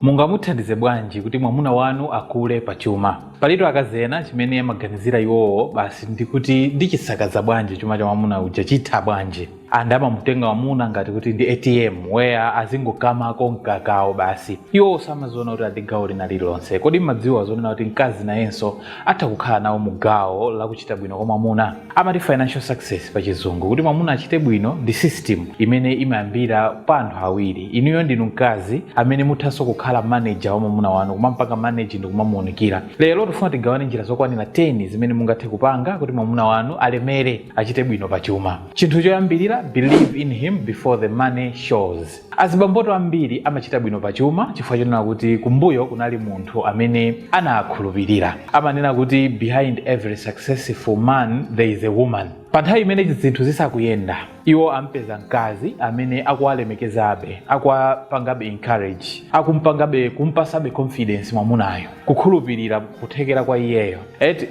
Mungamuthandize bwanji kuti mwamuna wanu akule pa chuma? Palitu akazi ena chimene amaganizira iwowo basi ndi kuti ndichisakaza bwanji chuma cha mwamuna uja chitha bwanji and amamutenga mwamuna ngati kuti ndi ATM where azingokamako mkakawo basi. Iwowo samaziona kuti ali ndi gawo lina lililonse. Kodi mmadziwa zonena kuti mkazi nayenso atha kukhala nawo mu gawo la kuchita bwino kwa mwamuna. Amati financial success pa chizungu. Kuti mwamuna achite bwino ndi system imene imayambira pa anthu awiri. Inuyo ndinu mkazi amene muthanso kukhala manager wa mwamuna wanu, kumampanga manage ndi kumamuunikira. Lero tifuna tigawane njira zokwanira 10 zimene mungathe kupanga kuti mwamuna wanu alemere, achite bwino pa chuma. Chinthu choyambirira, believe in him before the money shows. Azibambotu ambiri amachita bwino pa chuma chifukwa chonena kuti kumbuyo kunali munthu amene anaakhulupirira. Amanena kuti behind every successful man there is a woman. Pa nthawi imene zinthu zisakuyenda, iwo ampeza mkazi amene akuwalemekezabe, akuwapangabe encourage, akumpangabe, kumpasabe confidence mwamunayo, kukhulupirira kuthekera kwa iyeyo.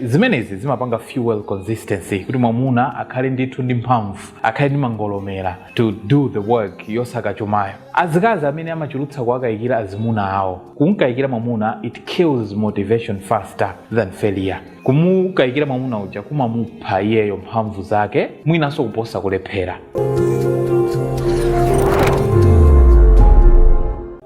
Zimenezi zimapanga fuel consistency kuti mwamuna akhale ndithu ndi mphamvu, akhale ndi mangolomera. to do the work yosaka chumayo azikazi amene amachulutsa kuwakayikira azimuna awo kumkayikira mwamuna it kills motivation faster than failure kumukayikira mwamuna uja kumamupha iyeyo mphamvu zake mwinanso kuposa kulephera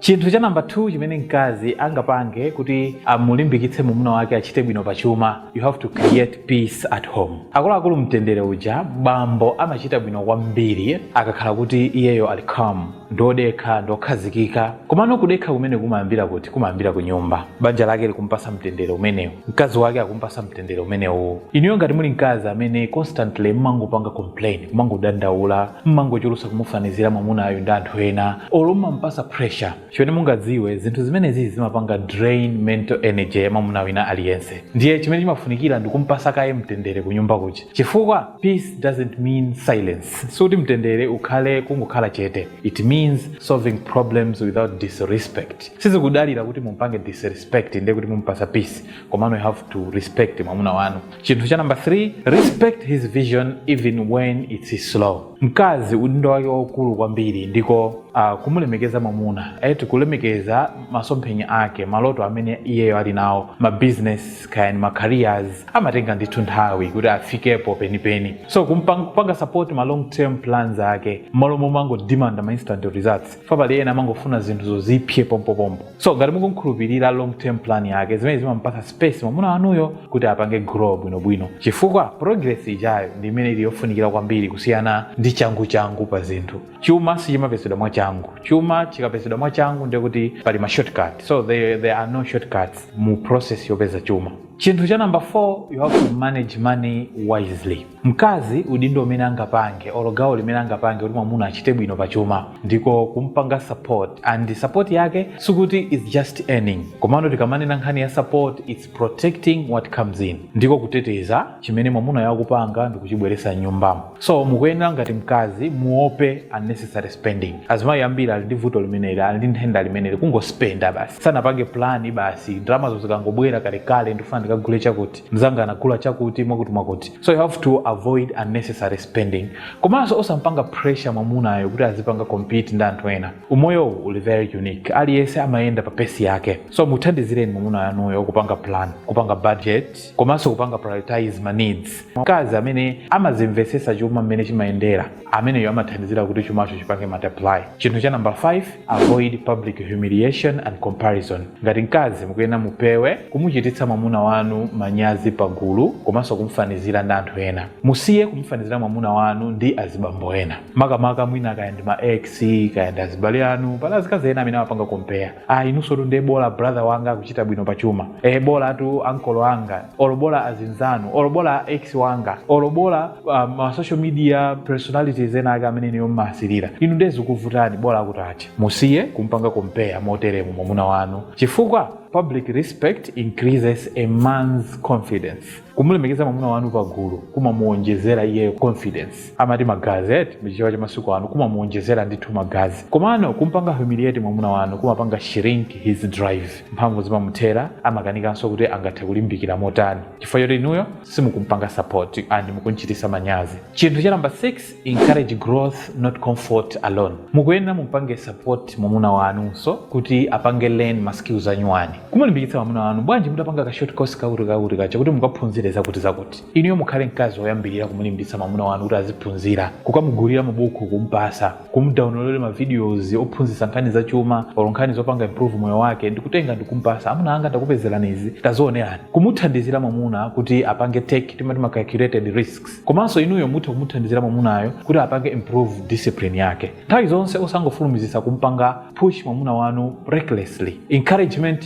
chinthu cha namba 2 chimene mkazi angapange kuti amulimbikitse mwamuna wake achite bwino pa chuma you have to create peace at home. Akuluakulu mtendere uja bambo amachita bwino kwambiri akakhala kuti iyeyo ali calm, ndiodekha, ndiokhazikika. Komano kudekha kumeneku kumayambira kuti? Kumayambira kunyumba. Banja lake likumpasa mtendere umenewo? Mkazi wake akumpasa mtendere umenewo? Inuyo ngati muli mkazi amene constantly mmangopanga complain, mmangodandaula, mmangochulusa kumufanizira mwamunayu ndi anthu ena, olo mmamupasa pressure, chimene mungadziwe zinthu zimenezi zimapanga drain mental energy ya mwamuna wina aliyense ndiye chimene chimafunikira ndi kumpasa kaye mtendere ku nyumba kuja chifukwa peace doesn't mean silence sikuti mtendere ukhale kungokhala chete it means solving problems without disrespect sizikudalira kuti mumpange disrespect ndiye kuti mumpasa peace komano you have to respect mwamuna wanu chinthu cha number 3 respect his vision even when it's slow mkazi udindo wake waukulu kwambiri ndiko uh, kumulemekeza mwamuna eti kulemekeza masomphenya ake maloto amene iyeyo ali nawo ma business kaya ndi ma careers amatenga ndithu nthawi kuti afikepo penipeni so kumpang- kupanga support ma long term plans ake mmalo momangodimanda ma instant results paja pali ena amangofuna zinthu zizipsa pompopompo so ngati mukumkhulupirira long term plan yake zimene zimampatsa space mwamuna wanuyo kuti apange grow bwinobwino chifukwa progress ijayo ndi imene ili yofunikira kwambiri kusiyana ndi changuchangu pa zinthu chuma sichimapezedwa mwachangu chuma chikapezedwa mwachangu ndiye kuti pali ma shortcut so there are no shortcuts mu process yopeza chuma chinthu cha number 4 you have to manage money wisely Mkazi udindo umene angapange olo gawo limene angapange kuti mwamuna achite bwino pa chuma ndiko kumpanga support and support yake sikuti is just earning komano tikamanena nkhani ya support it's protecting what comes in ndiko kuteteza chimene mwamunayo akupanga ndikuchibweresa nyumbamo so mukuyenera ngati mkazi muope unnecessary spending azimayi ambiri ali ndi vuto limeneli ali ndi nthenda limeneli kungospenda basi sanapange plani basi ndalama zo zikangobwera kalekale ndifuna ndikagule chakuti mzanga anagula chakuti mwakuti mwakuti so you have to avoid unnecessary spending komanso osampanga pressure mwamunayo kuti azipanga compete ndi anthu ena umoyowu uli very unique aliyense amayenda pa pace yake so muthandizireni mwamuna wanuyo kupanga plan kupanga budget komanso kupanga prioritize ma needs mkazi amene amazimvesesa chuma mmene chimayendera ameneyo amathandizira kuti chumacho chipange multiply chinthu cha number 5 avoid public humiliation and comparison ngati mkazi mukuyenera mupewe kumuchititsa mwamuna wanu manyazi pagulu komanso kumfanizira ndi anthu ena musiye kumfanizira mwamuna wanu ndi azibambo ena makamaka mwina kaya ndi ma ex kaya ndi azibale anu pali azikazi ena amene amapanga compare ah, inunsotu ndiye bola brother wanga akuchita bwino pa chuma e, bolatu uncle anga olo bola azinzanu olo bola ex wanga olo bola ah, ma social media personalities ena ake amene inuyo mmaasirira inu ndiye zikuvutani bola akutiakuti musiye kumpanga compare moteremu mwamuna wanu chifukwa public respect increases a man's confidence kumulemekeza mwamuna wanu pagulu kumamuwonjezera iye confidence amati magazi eti muchichewa cha masiku ano kumamuwonjezera ndithu magazi komano kumpanga humiliate mwamuna wanu kumapanga shrink his drive mphamvu zimamuthera amakanikanso kuti angathe kulimbikira motani chifukwa choti inuyo simukumpanga support and mukumchititsa manyazi chinthu cha number 6 encourage growth not comfort alone mukuyenera mumpange support mwamuna wanunso kuti apange learn ma skills anyuwani kumulimbikitsa mwamuna wanu bwanji mutapanga ka short course kakuti kakuti kachakuti mukaphunzire zakuti zakuti inuyo mukhale mkazi woyambirira kumulimbitsa mwamuna wanu kuti aziphunzira kukamugulira mabuku kumpasa kumdownloadera ma videos ophunzitsa nkhani za chuma or nkhani zopanga improve moyo wake ndikutenga ndikumpasa amuna anga ndakupezerani izi tazionerani kumuthandizira mwamuna kuti apange take timati ma calculated risk komanso inuyo mutha kumuthandizira mwamunayo kuti apange improve discipline yake nthawi zonse osangofulumizitsa kumpanga push mwamuna wanu recklessly encouragement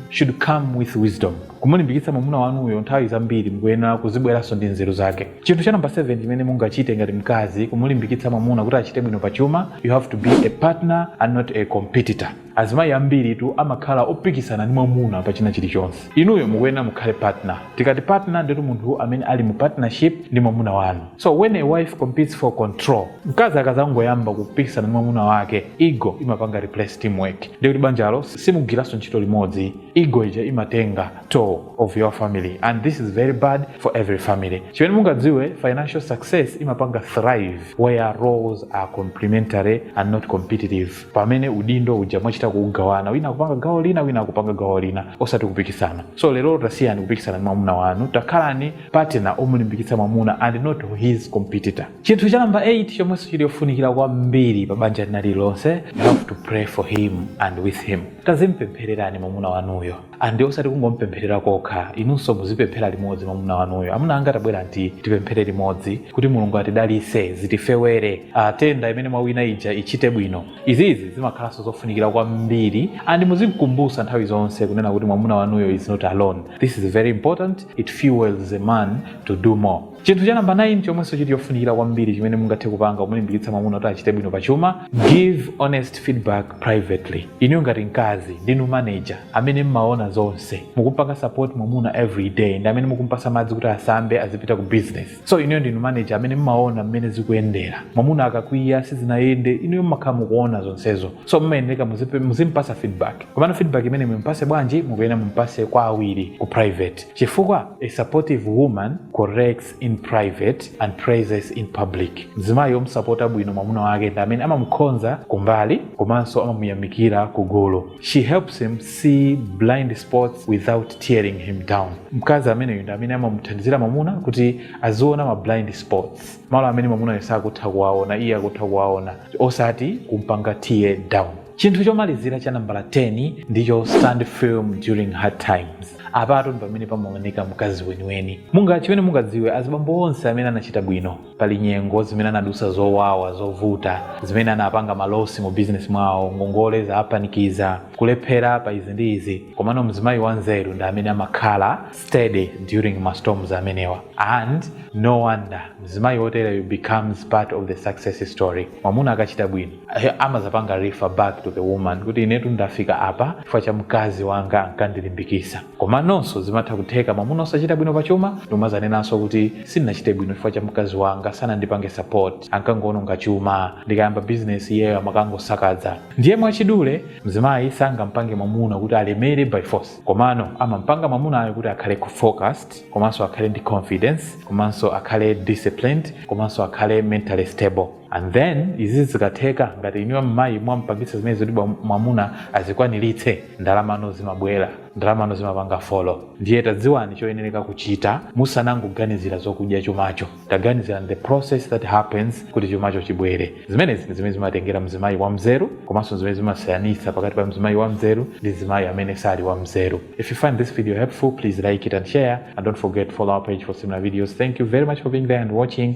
should come with wisdom kumulimbikitsa mwamuna wanuyo nthawi zambiri mukuyenera kuzibweranso ndi nzeru zake chinthu cha number 7 chimene mungachite ngati mkazi kumulimbikitsa mwamuna kuti achite bwino pa chuma you have to be a partner and not a competitor Azimayi ambiritu amakhala opikisana ndi mwamuna pa china chilichonse. Inuyo mukuyenera mukhale partner. Tikati partner ndiye kuti munthu amene ali mu partnership ndi mwamuna wanu. So when a wife competes for control, mkazi akazangoyamba kupikisana ndi mwamuna wake, ego imapanga replace teamwork. Ndiye kuti banjalo simugwiranso ntchito limodzi. Ego ija imatenga toll of your family and this is very bad for every family. Chimene mungadziwe, financial success imapanga thrive where roles are complementary and not competitive. pamene udindo uja mwachita kugawana wina kupanga gawo lina wina kupanga gawo lina osati kupikisana so lero tasiyani kupikisana ndi mwamuna wanu takhalani partner omulimbikitsa mwamuna and not his competitor chinthu cha namba 8 chomwenso chili yofunikira kwambiri pa banja lina lililonse you have to pray for him and with him tazimpemphererani mwamuna wanuyo andi osati kungompempherera kokha inunso muzipemphera limodzi mwamuna wanuyo amuna anga tabwera nti tipemphere limodzi kuti mulungu atidalise zitifewere tenda imene mwawina ija ichite bwino izizi zimakhalanso zofunikira kwambiri andi muzimkumbusa nthawi zonse kunena kuti mwamuna wanuyo is not alone this is very important it fuels a man to do more Chinthu cha namba 9 chomwenso chili chofunikira kwambiri chimene mungathe kupanga kumulimbikitsa mwamuna kuti achite bwino pa chuma, give honest feedback privately. Inuyo ngati mkazi ndinu manager amene mmaona zonse, mukumpanga support mwamuna every day ndi amene mukumpasa madzi kuti asambe azipita ku business. So inuyo ndinu manager amene mmaona mmene zikuyendera. Mwamuna akakwiya sizinayende, inuyo mmakhala mukuona zonsezo. So mmayeneka muzimpasa feedback. Komano feedback imene mumpase bwanji mukuyenera mumpase kwa awiri ku private. Chifukwa a supportive woman corrects in private and praises in public, Mzimayi omusapota bwino mwamuna wake ndi amene amamukhonza kumbali komanso amamuyamikira kugulu. She helps him see blind spots without tearing him down. Mkazi ameneyu ndi amene amamuthandizira mwamuna kuti aziona ma blind spots, malo amene mwamunayo sakutha kuwaona iye akutha kuwaona, osati kumpanga tear down. Chinthu chomalizira cha nambala 10 ndicho stand firm during hard times. apatu ndi pamene pamaoneka mkazi weniweni munga chimene mungadziwe azibambo onse amene anachita bwino pali nyengo zimene anadusa zowawa zovuta zimene anapanga malosi mu bizinesi mwawo ngongole zawapanikiza kulephera pa izi ndi izi komano mzimayi wanzeru ndi amene amakhala steady during ma storms amenewa and no wonder mzimayi wotereyo becomes part of the success story mwamuna akachita bwino amazapanga refer back to the woman kuti inetu ndafika apa chifukwa cha mkazi wanga ankandilimbikisa komanonso zimatha kutheka mwamuna osachita bwino pa chuma ndikumazanenanso kuti sindinachite bwino chifukwa cha mkazi wanga sanandipange support ankangoononga chuma ndikayamba bizinesi iyeyo amakangosakadza ndiye mwachidule mzimayi sangampange mwamuna kuti alemere by force komano amampanga mwamunayo kuti akhale focused komanso akhale ndi confidence komanso akhale disciplined komanso akhale mentally stable and then izi zikatheka ngati inuyo mmayi mwampangisa zimene zoti bwa- mwamuna azikwaniritse ndalamano zimabwera ndalamano zimapanga follow ndiye tadziwani choyenereka kuchita musanangoganizira zokudya chumacho taganizira the process that happens kuti chumacho chibwere zimenezi ndi zimene zimatengera mzimayi wa mzeru komanso zimene zimasiyanitsa pakati pa mzimayi wa mzeru ndi mzimayi amene sali wa mzeru if you find this video helpful please like it and share and don't forget to follow our page for similar videos thank you very much for being there and watching